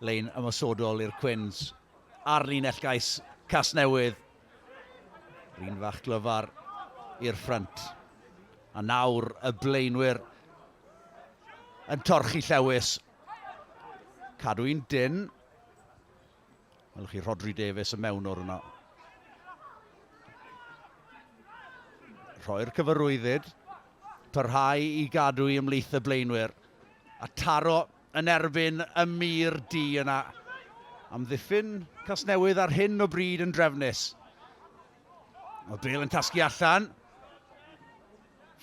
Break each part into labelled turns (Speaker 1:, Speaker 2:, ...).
Speaker 1: Lein ymosodol i'r Cwins ar linell gais Casnewydd. Rhun fach glyfar i'r ffrynt. A nawr y blaenwyr yn torchi llewis. Cadw un dyn. Welwch chi Rodri Davies y mewn o'r yno. Rhoi'r cyfarwyddyd. Parhau i gadw i ymlaeth y blaenwyr. A taro yn erbyn y mur du yna. Amddiffyn Casnewydd ar hyn o bryd yn drefnus. Mae Bale yn casgu allan.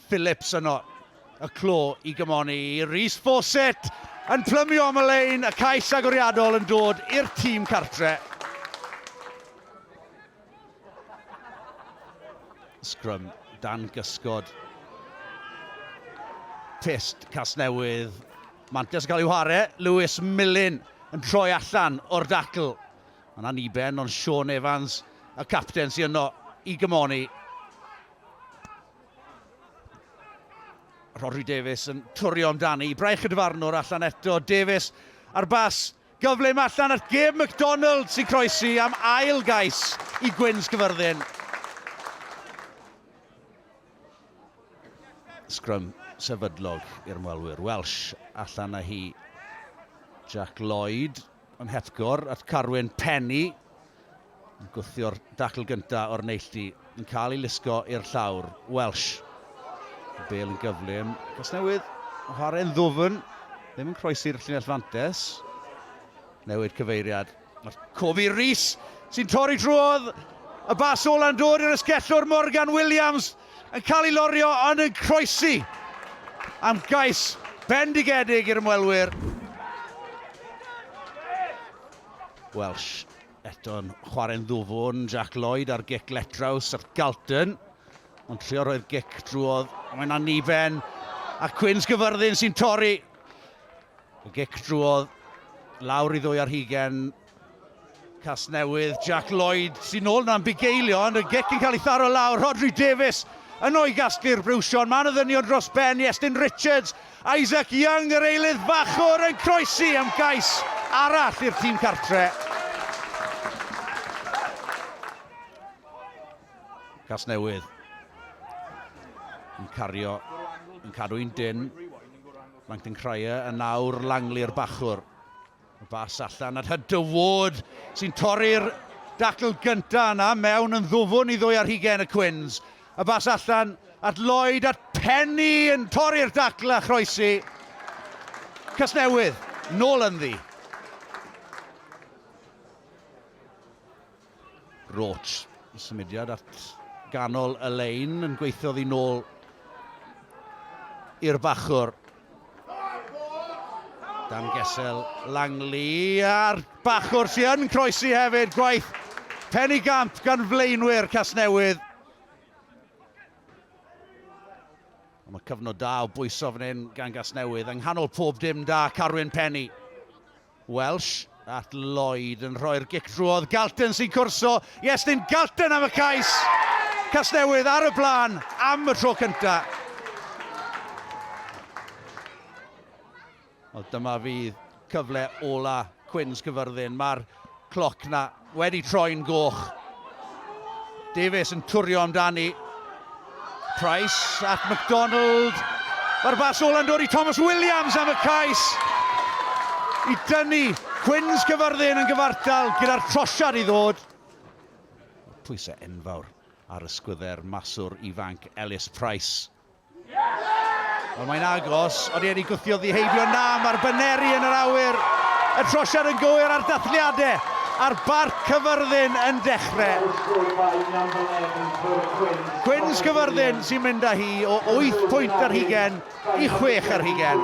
Speaker 1: Phillips yno. Y clo i gymoni i Rhys Fawcett yn plymio am y lein. Y cais agoriadol yn dod i'r tîm cartre. Scrum dan gysgod. Test Casnewydd. Mantes yn cael ei whare. Lewis Millen yn troi allan o'r dacl. Yna ni ben ond Sean Evans, y capten sy'n yno i gymoni. Rodri Davies yn twrio amdani. Braich y dyfarnwr allan eto. Davies ar bas Gyfle yma allan at Gabe McDonald sy'n croesi am ail gais i Gwyn's Cyfyrddin. Scrum sefydlog i'r ymwelwyr. Welsh allan â hi. Jack Lloyd yn hepgor at Carwyn Penny. Yn gwthio'r dacl gyntaf o'r neilltu, yn cael ei lusgo i'r llawr, Welsh. Y bel yn gyflym, Casnewydd, chwarae'n ddwfn, ddim yn croesi'r llinell fantes. Newid cyfeiriad, mae'r cof i Rees, sy'n torri drwodd, y bas ola'n dod i'r ysgellwr Morgan Williams, yn cael ei lorio ond yn croesi am gais bendigedig i'r ymwelwyr. Welsh Eto'n chwarae'n ddwfwn, Jack Lloyd ar gic letraws at Galton. Ond trio roi'r gic drwodd, mae'n anifen. A Cwins Gyfyrddin sy'n torri. Y gic drwodd, lawr i ddwy ar hugen. Casnewydd, Jack Lloyd sy'n ôl na'n bugeilio, ond y gic yn cael ei tharo lawr. Rodri Davies yn o'i gasglu'r briwsion. Mae'n y ddynion dros ben i Estyn Richards. Isaac Young, yr eilydd fachwr, yn croesi am gais arall i'r tîm cartre. Casnewydd yn cario, yn cadw'n dyn. Langton Cryer yn nawr Langley, yr bachwr. Y bas allan at Hunter Ward sy'n torri'r dacl gynta yna mewn yn ddwfwn i ddwy ar hugen y Cwins. Y bas allan at Lloyd at Penny yn torri'r dacl a chroesi. Casnewydd, nôl ynddi. Roach, y symudiad at ganol y lein yn gweithio ddi nôl i'r bachwr. Dan Gesel Langley a'r bachwr sy'n yn croesi hefyd, gwaith pen i gamp gan flaenwyr Casnewydd. Ond mae cyfnod da o bwyso fan hyn gan Gasnewydd yng nghanol pob dim da Carwyn Penny. Welsh at Lloyd yn rhoi'r gic drwodd, Galton sy'n cwrso i Estyn Galton am y cais! Casnewydd ar y blaen am y tro cyntaf. Wel, dyma fydd cyfle ola Cwins Cyfyrddin. Mae'r cloc na Wedi troi'n goch. Davies yn twrio amdani. Price at McDonald. Mae'r bas ôl yn dod i Thomas Williams am y cais i dynnu Cwins Cyfyrddin yn gyfartal gyda'r trosiad i ddod. Pwysau enfawr ar ysgwydder maswr ifanc Ellis Price. Ond mae'n agos, ond e'n i gwthio ddiheibio na, mae'r baneri yn yr awyr. Y trosiad yn gywir a'r dathliadau a'r barc cyfyrddin yn dechrau. Gwyn's cyfyrddin sy'n mynd â hi o 8 pwynt ar hugen i 6 ar hugen.